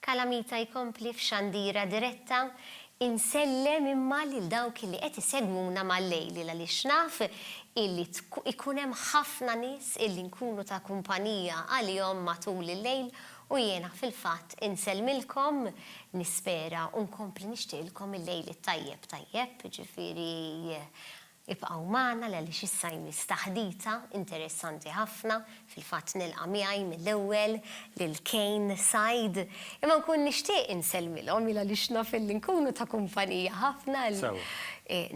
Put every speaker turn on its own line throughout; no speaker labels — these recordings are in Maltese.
Calamita jkompli f'xandira diretta, Insellem imma lil dawk illi qed isegwuna mal-lejl għaliex naf illi ikun hemm ħafna nies illi nkunu ta' kumpanija għalihom matul il-lejl U jiena fil-fatt insellmilkom, nispera u nkompli nixtieqilkom il-lejl it-tajjeb tajjeb, jiġifieri ibqgħu magħna għaliex issa jmiss taħdita interessanti ħafna, fil-fatt nilqa' miegħi mill-ewwel lil Kane, Said, imma nkun nixtieq insellmilhom il għaliex naf illi nkunu ta' kumpanija ħafna,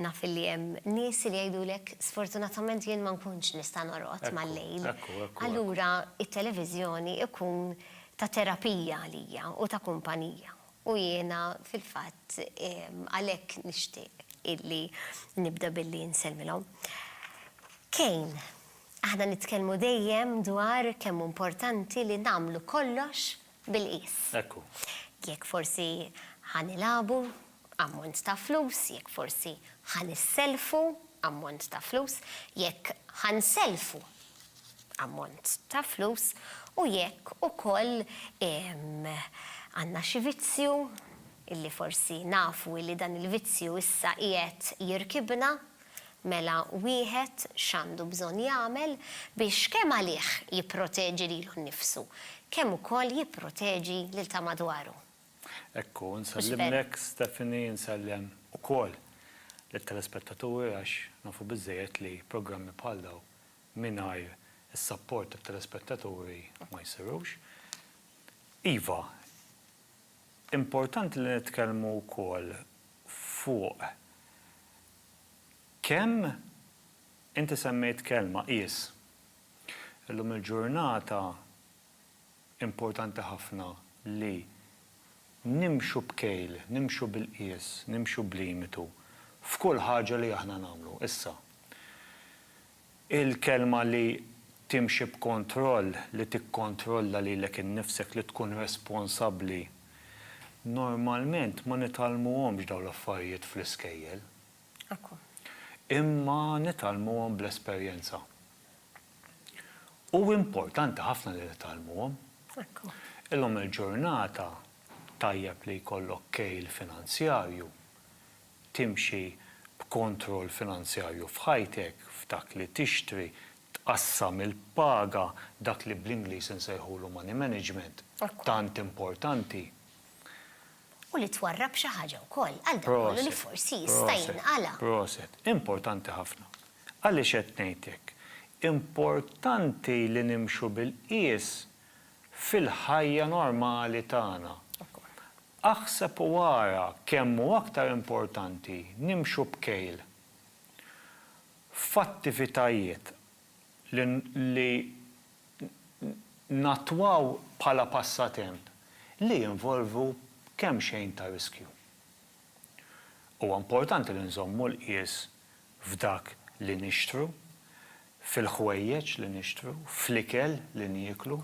naf illi hemm nies li jgħidulek sfortunatament jien ma nkunx nista' norqod mal-lejl. allura t-televiżjoni jkun ta' terapija għalija u ta' kumpanija. U jiena fil-fatt għalhekk nixtieq illi nibda billi nsellmilhom. Kane, aħna nitkellmu dejjem dwar kemm hu importanti li nagħmlu kollox bil-qies. Ekku. Jekk forsi ħa nilagħbu, ammont ta' flus, jekk forsi ħa nisselfu, ammont ta' flus, jekk ħa nsellfu, ammont ta' flus, u jekk ukoll għandna xi vizzju illi forsi nafu illi dan il-vizzju issa qiegħed jirkibna, Mela wieħed x'għandu bżonn jagħmel biex kemm għalih jipproteġi lilu nnifsu, kemm ukoll jipproteġi lil ta' madwaru? Hekk hu,
nsellimlek Stephanie, insellem ukoll lit-telespettaturi għax nafu biżżejjed li programmi bħal dawn mingħajr is-sapport tat-telespettaturi ma jsirux. Iva, importanti li nitkellmu wkoll fuq Kemm inti semmejt kelma, qies. Illum il-ġurnata importanti ħafna li nimxu b'kejl, nimxu bil-qies, nimxu b'limitu f'kull ħaġa li aħna nagħmlu issa. Il-kelma li timxi b'kontroll, li tikkontrolla lilek innifsek, li tkun responsabbli, normalment ma nitgħallmuhomx dawn l-affarijiet fl-iskejjel. Ekku. Imma nitgħallmuhom bl-esperjenza. U importanti ħafna li nitgħallmuhom. Ekku. Illum il-ġurnata tajjeb li jkollok kejl finanzjarju timxi b'kontroll finanzjarju f'ħajtek, f'dak li tixtri, tqassam il-paga, dak li bl-Ingliż insejħulu money management, tant importanti.
U li twarrab xi ħaġa wkoll għal dak kollu li forsi jista' jinqala'. Proset, proset.
Importanti ħafna. Għaliex qed ngħid hekk? Importanti li nimxu bil-qies fil-ħajja normali tagħna. Aħseb u ara kemm hu aktar importanti nimxu b'kejl f'attivitajiet li li nattwaw bħala passatemp li jinvolvu kemxejn ta' riskju. Huwa importanti li nżommu l-qies f'dak li nixtru, fil-ħwejjeġ li nixtru, fl-ikel li nieklu.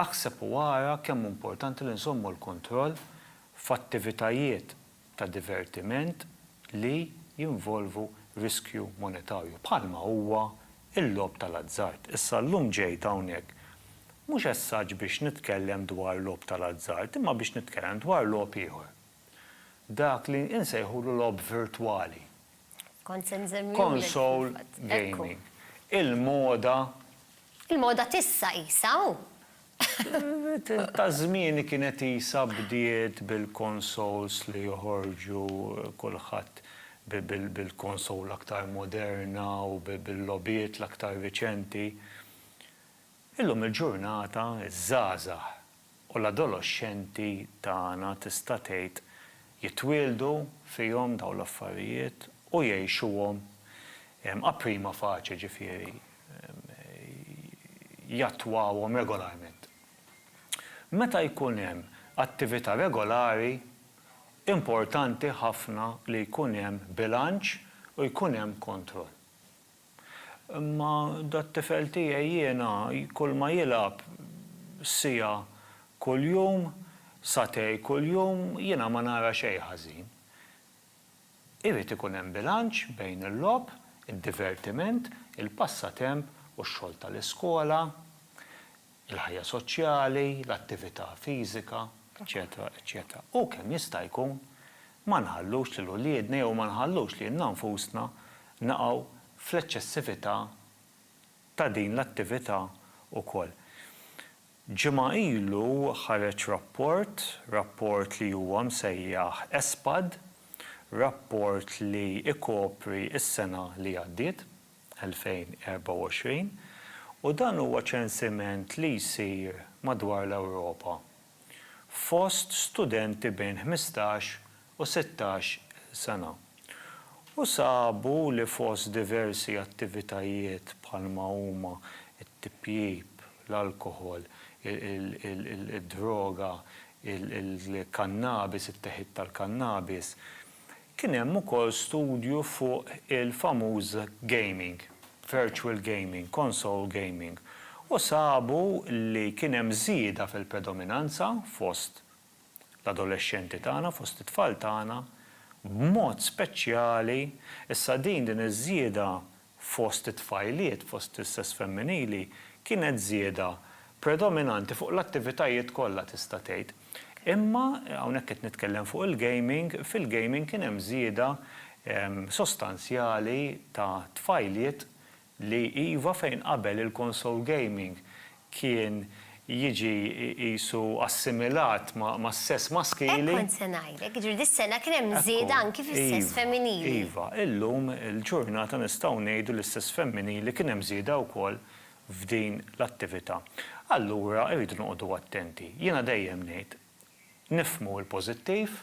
Aħseb u ara kemm hu importanti li nżommu l-kontroll f'attivitajiet ta' divertiment li jinvolvu riskju monetarju, bħalma huwa l-logħob tal-azzard. Issa llum ġejt hawnhekk mhux as such biex nitkellem dwar logħob tal-azzard, imma biex nitkellem dwar logħob ieħor, dak li insejħulu logħob virtwali. Kont se nżemmilek. Console gaming. Il-moda.
Il-moda t'issa qisha hu.
Ta' żmieni kienet qisha bdiet bil-consoles li joħorġu kulħadd bil-console l-aktar moderna u bil-logħbiet l-aktar riċenti. Illum il-ġurnata ż-żgħażagħ U l-adoloxxenti tagħna tista' tgħid jitwieldu fihom dawn l-affarijiet u jgħixuhom a prima facie, ġifieri jattwawhom regolarment. Meta jkun hemm attività regolari, importanti ħafna li jkun hemm bilanċ u jkun hemm kontroll. Imma dat-tifel tiegħi jiena kulma jilgħab siegħa kuljum, sagħtej kuljum, jiena ma nara xejn ħażin. Irid ikun hemm bilanċ bejn il-logħob, id-divertiment, il-passatemp u x-xogħol tal-iskola. il-ħajja soċjali, l-attività fiżika, eċċetera, eċċetera. U kemm jista' jkun ma nħallux lil uliedna jew ma nħallux lilna nfusna naqgħu fl-eċċessività ta' din l-attività wkoll. Ġimgħa ilu ħareġ rapport, rapport li huwa msejjaħ ESPAD, rapport li jkopri s-sena li għaddiet. 2024 u dan huwa ċensiment li jsir madwar l-Ewropa fost studenti bejn ħmistax u sittax il sena u sabu li fost diversi attivitajiet bħalma huma t-tipjip, l-alkoħol, id-droga, il-kannabis, it-teħid tal-kannabis, Kien hemm ukoll studju fuq il-famuż gaming, virtual gaming, console gaming, u sabu li kien hemm żieda fil-predominanza fost l-adolexxenti tagħna, fost it-tfal tagħna, b'mod speċjali, issa din din iż-żieda fost it-tfajliet fost is-sess femminili kienet żieda predominanti fuq l-attivitajiet kollha tista' tgħid. Imma hawnhekk qed nitkellem fuq il-gaming, fil-gaming kien hemm żieda sostanzjali ta' tfajliet li iva fejn qabel il-console gaming kien jiġi qisu assimilat mas-sess maskili. Hekk kont se ngħidlek,
jiġifieri dis-sena kien hemm żieda anki fis-sess femminili. Iva, illum
il-ġurnata nistgħu ngħidu li s-sess femminili kien hemm żieda wkoll f'din l-attività. Allura rridu noqogħdu attenti. Jiena dejjem ngħid, nifhmu l-pożittiv,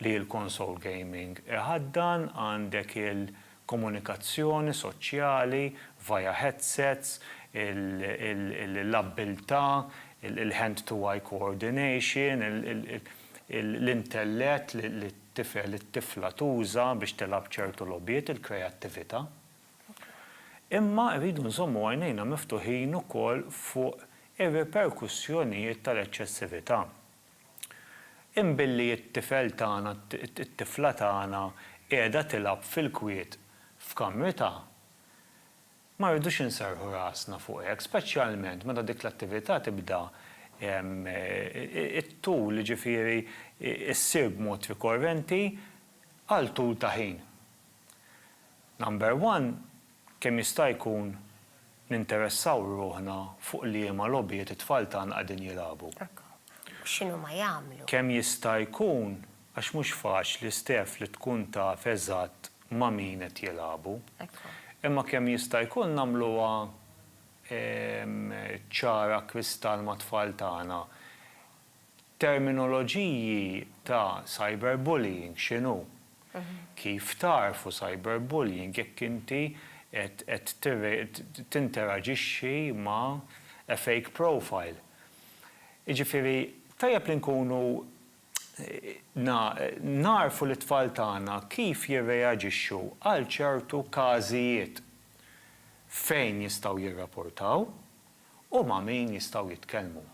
li l-konsol gaming iħaddan għandek il-komunikazzjoni soċjali via headsets, l-abbiltà, il-hand to eye coordination, l-intellett li t-tifel, it-tifla tuża biex tilgħab ċertu logħbiet, il-kreattività. Imma rridu nżommu għajnejna miftuħin ukoll fuq ir-riperkussjonijiet tal-eċċessività. Imma billi t-tifel tagħna, it-tifla tagħna qiegħda tilgħab fil-kwiet f'kamritha, ma rridux inserrħu rasna fuq hekk, speċjalment meta dik l-attività tibda t-tul, jiġifieri ssir b'mod rikorrenti għal tul ta' ħin. Number one, Kemm jista' jkun ninteressaw ruħna fuq liema logħbiet it-tfal tagħna qegħdin jilagħbu. U x'inhuma
jagħmlu. Kemm jista'
jkun għax mhux faċli Steph li tkun taf eżatt ma' min qed jilagħbu. Imma kemm jista' jkun nagħmluha ċara kristall mat-tfal tagħna. Terminoloġiji ta' cyberbullying x'inhu? Kif tagħrfu cyberbullying jekk inti qed qed tinteraġixxi ma' a fake profile? Jiġifieri tajjeb li nkunu nagħrfu lit-tfal tagħna kif jirreaġixxu għal ċertu każijiet fejn jistgħu jirrapurtaw. u ma' min jistgħu jitkellmu.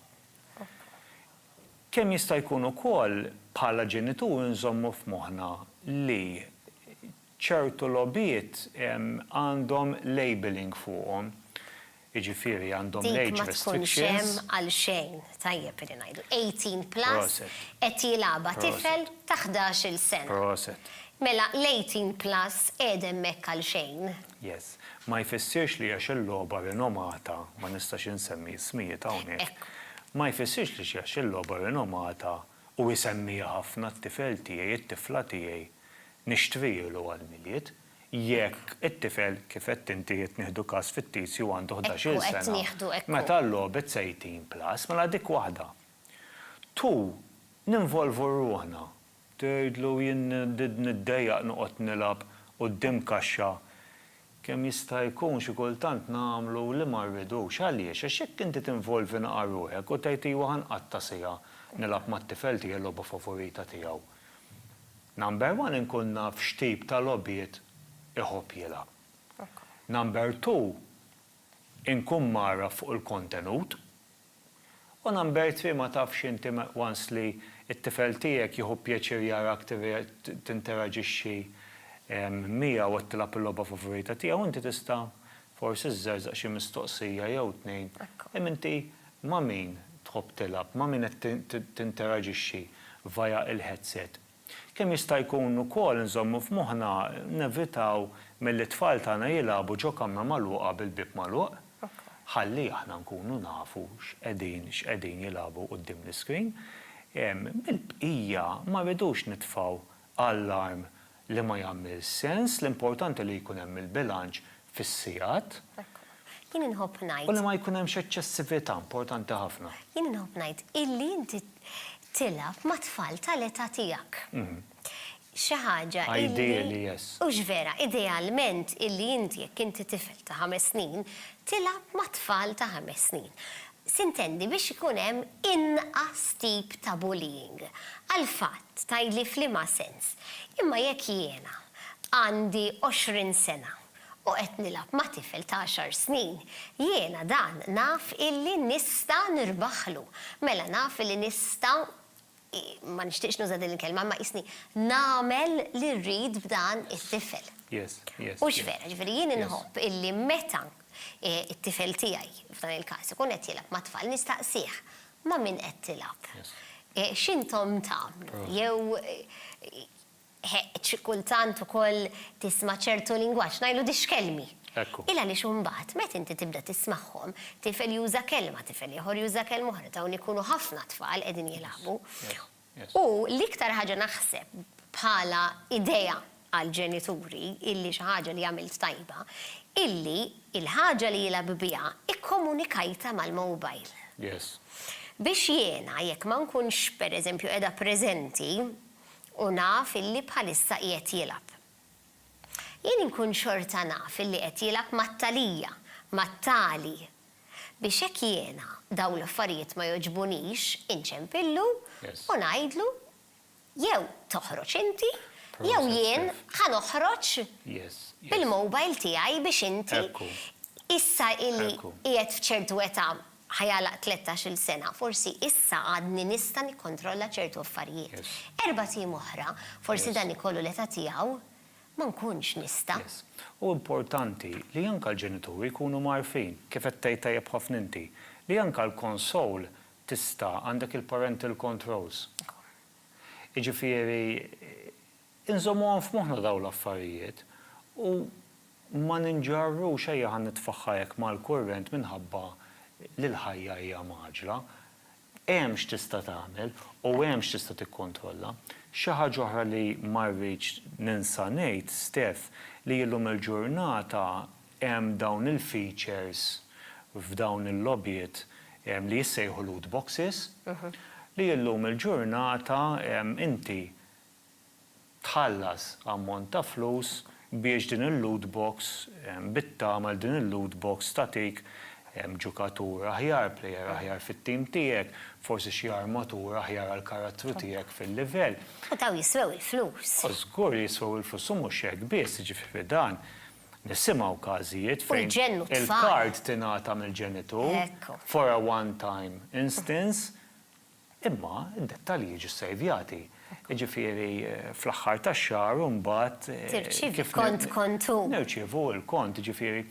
Kemm jista' jkun ukoll bħala ġenituri nżommu f'moħħna li ċertu logħbiet għandhom labelling fuqhom, jiġifieri għandhom l-age restrictions. Dik ma tkunx hemm għal xejn,
tajjeb li ngħidu 18 plus, qed jilagħabha tifel ta' ħdax-il sena. Mela l-18 plus qiegħed hemmhekk għal xejn. Yes. Ma
jfissirx li għax il-logħba rinomata, ma nistax insemmi ismijiet hawnhekk, ma jfissirx li għax il-logħba rinomata u jsemmiha ħafna t-tifel tiegħi, it-tifla tiegħi, nixtrihielu għall-Milied. Jekk it-tifel, kif għedt inti, qed nieħdu każ fittizju, għandu ħdax-il sena, meta l-logħbiet sa 18 plus, mela dik waħda. Two, ninvolvu ruħna Tgħidlu jien niddejjaq noqgħod nilgħab quddiem kaxxa. Kemm jista' jkun xi kultant nagħmlu li ma rridux. Għaliex? Għax jekk inti tinvolvi naqra ruħek u tgħid iwa ħa nqatta' siegħa nilgħab mat-tifel tiegħi l-logħba favorita tiegħu. Number one inkun naf x'tip ta' logħbiet iħobb jilgħab. Number two inkun mgħarraf fuq il-kontenut. O Nambertri ma tafx inti once li t-tifel tiegħek jieħu pjaċir jarak tinteraġixxi miegħu qed tilgħab il-logħba favorita tiegħu inti tista' forsi żżerżaq xi mistoqsija jew tnejn imma inti ma' min tħobb tilgħab ma' min qed tinteraġixxi via l-headset. Kemm jista' jkun ukoll nżommu f'moħħna nevitaw milli t-tfal tagħna jilagħbu ġo kamra magħluqa bil-bieb magħluq, ħalli aħna nkunu nafu x'qegħdin x'qegħdin jilagħbu quddiem l-iscreen. Mill-bqija ma rridux nitfgħu allarm li ma jagħmilx sens, l-importanti li jkun hemm il-bilanċ fis-sigħat. Jien
inħobb ngħid. U li ma jkun hemmx
eċċessività, importanti ħafna. Jien inħobb ngħid
illi inti tilgħab ma' tfal tal-età tiegħek. Xi ħaġa illi. Ideali, yes.
Hux vera,
idealment illi inti jekk inti tifel ta' ħames snin, tilgħab ma' tfal ta' ħames snin. Sintendi biex ikun hemm inqas tip ta' bullying. Għall-fatt, tgħidli f'liema sens, imma jekk jiena għandi għoxrin sena u qed nilgħab ma' tifel ta' għaxar snin, jiena dan naf illi nista' nirbaħlu, mela naf illi nista' ma nixtieqx nuża' din il-kelma, imma qisni nagħmel li rrid b'dan it-tifel. Hux
vera, jiġifieri
jien inħobb illi meta t-tifel tiegħi, f'dan il-każ, ikun qed jilgħab ma' tfal nistaqsih, ma' min qed tilgħab? X'intom tagħmlu? Jew Heq, kultant ukoll tisma' ċertu lingwaġġ, ngħidlu dixkelmi. Ekku. Il għaliex imbagħad meta inti tibda tismagħhom, tifel juża kelma, tifel ieħor juża kelma oħra, dawn ikunu ħafna tfal qegħdin jilagħbu. U l-iktar ħaġa naħseb bħala idea għall-ġenituri illi xi ħaġa li għamilt tajba, illi l-ħaġa li jilgħab biha ikkomunikajtha mal-mobile. Yes. Biex jiena jekk ma nkunx pereżempju qiegħda preżenti, u naf illi bħalissa qiegħed jilgħab. Jien inkun xorta naf illi qed jilgħab mat-Thalia, mat-Thali, biex hekk jiena dawn l-affarijiet ma jogħġbunix inċempillu u ngħidlu jew toħroġ inti jew jien ħa noħroġ bil-mobile tiegħi biex inti issa illi qiegħed f'ċertu età ħa jagħlaq tlettax-il sena, forsi issa għadni nista' nikkontrolla ċertu affarijiet. Erbat ijiem oħra, forsi dan ikollu l-età tiegħu, ma nkunx nista'. Hu
importanti li anke l-ġenituri jkunu mgħarfin, kif qed tgħid tajjeb ħafna inti, li anke l-console tista' għandek il-parental controls. Jiġifieri Inżommuhom f'moħħna dawn l-affarijiet u ma ninġarrux, ejja ħa nitfaħħa hekk mal-kurrent minħabba li l-ħajja hija mgħaġġla. Hemm x'tista' tagħmel u hemm x'tista' tikkontrolla. Xi ħaġa oħra li ma rridx ninsa ngħid, Steph, li illum il-ġurnata hemm dawn il-features f'dawn il-logħbiet li jissejħu loot boxes, li illum il-ġurnata inti tħallas ammont ta' flus biex din il-loot box bit-tama li din il-loot box tagħtik ġukatur aħjar, plejer aħjar fit-tim tiegħek, forsi xi armatur aħjar għall-karattru tiegħek fil-livell. U dawn jiswew
il-flus. U żgur li jiswew
il-flus u mhux hekk biss, jiġifieri dan nisimgħu każijiet fejn il-card tingħata mill-ġenitur for a one time instance, Imma d-dettalji jiġu ssejvjati. Jiġifieri fl-aħħar tax-xahar u mbagħad kif
nirċievu l-kont.
Jiġifieri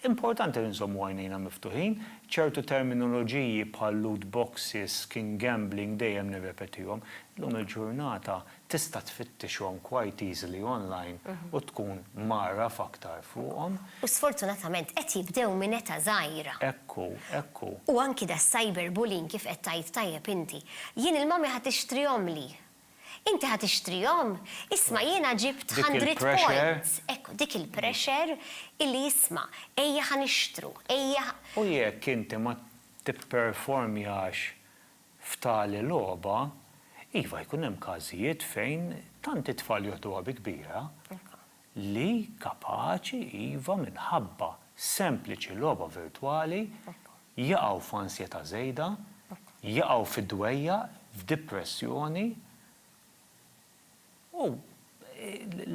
importanti li nżommu għajnejna miftuħin. Ċertu terminoloġiji bħal loot boxes, skin gambling dejjem nirrepetihom. Illum il-ġurnata Tista' tfittixhom quite easily online u tkun mgħarraf aktar fuqhom. U sfortunatament
qed jibdew minn età żgħira. Hekk hu, hekk hu.
U anki
das-cyber bullying kif qed tgħid tajjeb inti. Jien il-mommy ħa tixtrihomli. Inti ħa tixtrihom? Isma' jiena ġibt hundred points. Hekk hu, dik il-pressure illi isma' ejja ħa nixtru, ejja ħa. U jekk inti
ma tipperformjax F'tali logħba, iva, jkun hemm każijiet fejn tant it-tfal joħduha bi kbira li kapaċi, iva, minħabba sempliċi logħba virtwali jaqgħu f'ansjetà żejda, jaqgħu fi dwejjaq, f'dipressjoni u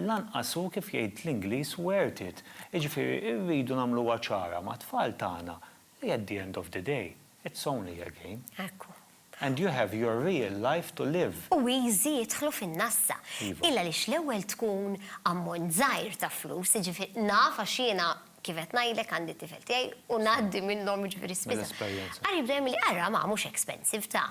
lanqas hu kif jgħid l-Ingliż worth it. Jiġifieri rridu nagħmluha ċara mat-tfal tagħna li at the end of the day, it's only a game. Ekku. And
you have
your real life to live. U easy jidħlu
fin-nassa. Iva. Illa għaliex
l-ewwel
tkun ammont żgħir ta' flus, jiġifieri naf għax jiena kif qed ngħidlek għandi t-tifel tiegħi u ngħaddi minnhom jiġifieri spiss. Mill-esperjenza. Qari bda jgħidli,
ara
ma mhux expensive ta.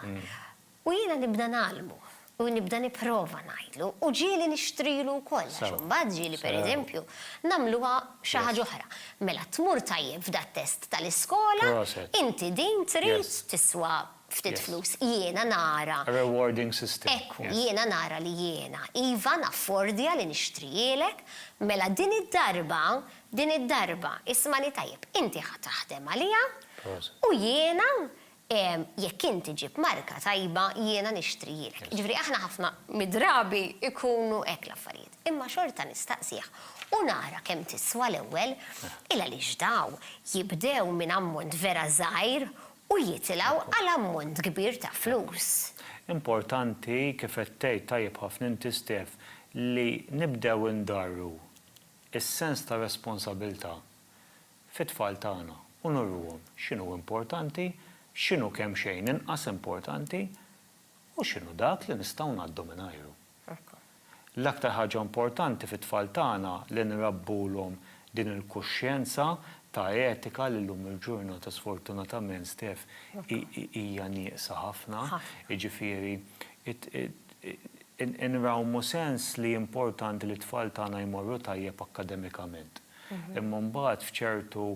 U jiena nibda ngħallmu, u nibda nipprova ngħidlu, u ġieli nixtrilu wkoll għax imbagħad ġieli pereżempju
nagħmluha
xi ħaġa oħra. Mela tmur tajjeb f'dat-test tal-iskola, inti
din trid
tiswa
ftit
flus, jiena
nara.
Rewarding system.
Ekku, jiena nara
li
jiena
iva naffordja li nixtrihielek, mela din id-darba, din id-darba, ismagħni tajjeb, inti ħa taħdem għaliha u
jiena
jekk int iġib marka tajba jiena nixtrihielek. Jiġifieri aħna ħafna mid-drabi jkunu hekk l-affarijiet. Imma xorta nistaqsih u nara kemm tiswa l-ewwel, il-għaliex daw jibdew minn ammont vera żgħir u jitilgħu għal ammont kbir ta' flus. Importanti
kif qed tgħid tajjeb ħafna inti Stef, li nibdew indarru s-sens ta' responsabilità fit-tfal tagħna u nurruhom x'inhu importanti, x'inhu kemxejn inqas importanti u x'inhu dak li nistgħu ngħaddu mingħajru. L-aktar ħaġa importanti fit-tfal tagħna li nrabbulhom din il-kuxjenza ta' etika li llum il-ġurnata sfortunatament Steph hija nieqsa ħafna, jiġifieri nrawmu sens li importanti li t-tfal tagħna jmorru tajjeb akkademikament. Imma mbagħad f'ċertu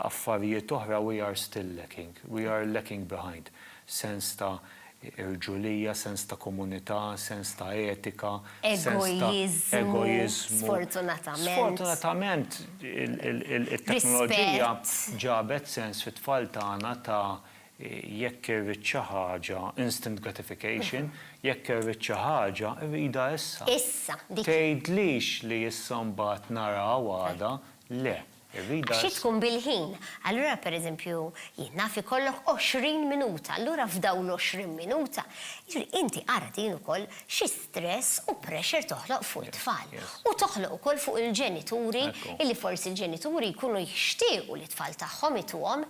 affarijiet oħra we are still lacking, we are lacking behind. Sens ta' irġulija, sens ta' komunità, sens ta' etika, sens ta'
egoiżmu. Sfortunatament. Sfortunatament
it-teknoloġija ġabet sens fit-tfal tagħna ta' Jekk irrid xi ħaġa, instant gratification, jekk irrid xi ħaġa, irridha issa. Issa, dik hi.
Tgħidlix li
issa mbagħad nara u għada, le, irridha issa. Għax hi tkun
bil-ħin. Allura, per eżempju, jien naf ikollok għoxrin minuta, allura f'dawn l-għoxrin minuta, jiġifieri inti ara din ukoll xi stress u pressure toħloq fuq it-tfal. U toħloq ukoll fuq il-ġenituri, illi forsi l-ġenituri jkunu jixtiequ li t-tfal tagħhom ituhom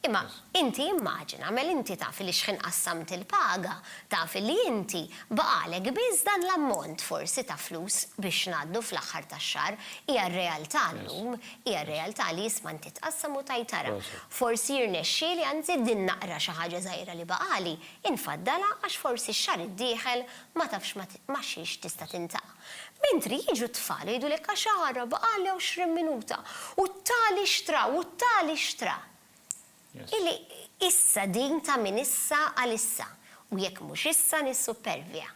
Imma inti immaġina, mela inti taf li xħin qassamt il-paga, taf li inti baqagħlek biss dan l-ammont forsi ta' flus biex ngħaddu fl-aħħar tax-xahar. Hija r-realtà llum, hija r-realtà li isma' inti tqassam u tgħid ara, forsi jirnexxieli anzi din naqra xi ħaġa żgħira li baqagħli, infaddalha għax forsi x-xahar id-dieħel ma tafx ma' xiex tista' tintaqa'. Mentri jiġu t-tfal jgħidulek għax għarra baqagħli għoxrin minuta u t-tali xtra u t-tali xtra. Illi issa din ta' minn issa għal issa u jekk mhux issa nissuppervja.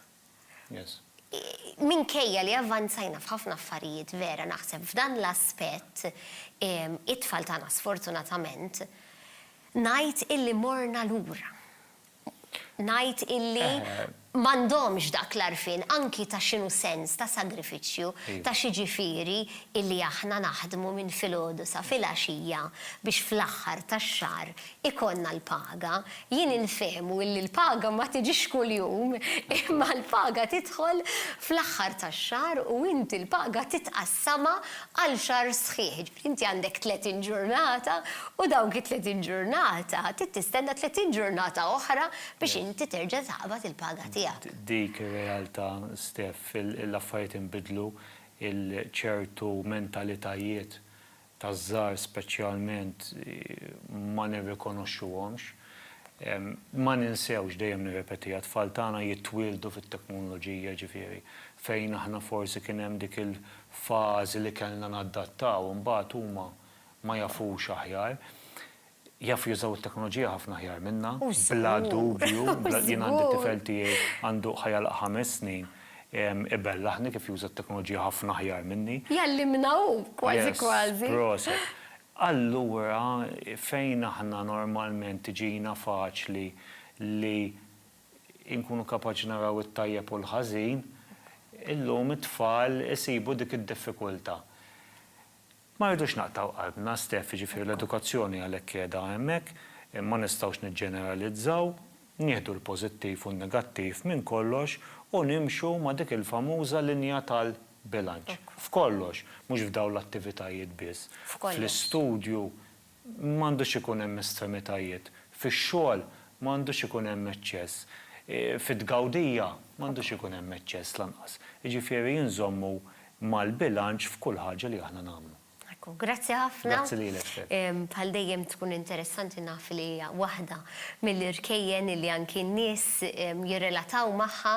Minkejja li avvanzajna f'ħafna affarijiet vera naħseb f'dan l-aspett it-tfal tagħna sfortunatament ngħid illi morna lura. ngħid illi m'għandhomx dak l-għarfien anki ta' x'inhu sens ta' sagrifiċċju, ta' x'jiġifieri illi aħna naħdmu minn filgħodu sa filgħaxija biex fl-aħħar tax-xahar ikollna l-paga. Jien infehmu illi l-paga ma tiġix kuljum imma l-paga tidħol fl-aħħar tax-xahar u inti l-paga titqassamha għal xahar sħiħ. Inti għandek 30 ġurnata u dawk it-30 ġurnata trid tistenna 30 ġurnata oħra biex inti terġa' taqbad il-paga tiegħek. Dik ir-realtà,
Steph. L-affarijiet inbidlu, ċertu mentalitajiet taż-żgħar speċjalment ma nirrikonoxxuhomx. Ma ninsewx, dejjem nirrepetiha, t-tfal tagħna jitwieldu fit-teknoloġija, jiġifieri fejn aħna forsi kien hemm dik f'fażi li kellna nadattaw imbagħad huma ma jafux aħjar. Jafu jużaw it-teknoloġija ħafna aħjar minna, bla dubju, jien għandi t-tifel tiegħi għandu ħa jagħlaq ħames snin, ibellaħni kif juża t-teknoloġija ħafna aħjar minni. Jgħallimna hu,
kważi kważi. Yes, proset.
Allura fejn aħna normalment tiġina faċli li inkunu kapaċi naraw it-tajjeb u l-ħażin, illum it-tfal isibu dik id-diffikultà. Ma rridux naqtgħu qalbna, Steph, jiġifieri l-edukazzjoni għalhekk qiegħda hemmhekk, ma nistgħux niġġeneralizzaw, nieħdu l-pożittiv u n-negattiv minn kollox u nimxu ma' dik il-famuża linja tal-bilanċ. F'kollox, mhux f'dawn l-attivitajiet biss, fl-istudju, Ma għandux ikun hemm estremitajiet. Fix-xogħol ma għandux ikun hemm eċċess. Fit-tgawdija ma għandux ikun hemm eċċess lanqas. Jiġifieri inżommu mal-bilanċ f'kull ħaġa li aħna nagħmlu. Ekku, grazzi ħafna.
Grazzi lilek, Stef.
Bħal dejjem
tkun interessanti naf li hija waħda mill-irkejjen illi anki n-nies jirrelataw magħha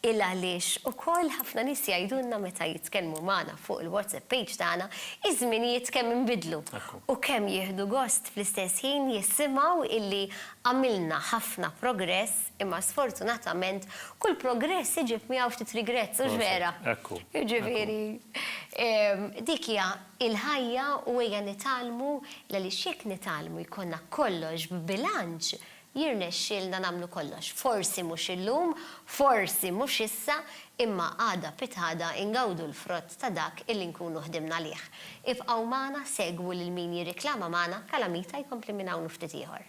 il għaliex ukoll ħafna nies jgħidulna meta jitkellmu magħna fuq il-WhatsApp page tagħna iż-żminijiet kemm inbidlu. u kemm jieħdu gost fl-istess ħin jissimgħu illi għamilna ħafna progress imma sfortunatament kull progress iġib miegħu ftit regrets, hux vera? Jiġifieri dik hija l-ħajja u ejja nitgħallmu l-għaliex jekk nitgħallmu jkollna kollox b'bilanċ Jirnexxielna nagħmlu kollox. Forsi mhux illum, forsi mhux issa, imma għada pitgħada ngawdu l-frott ta' dak illi nkunu ħdimna għalih. Ibqgħu magħna, segwu lil min jirriklama magħna, Calamita jkompli minn hawn u ftit ieħor.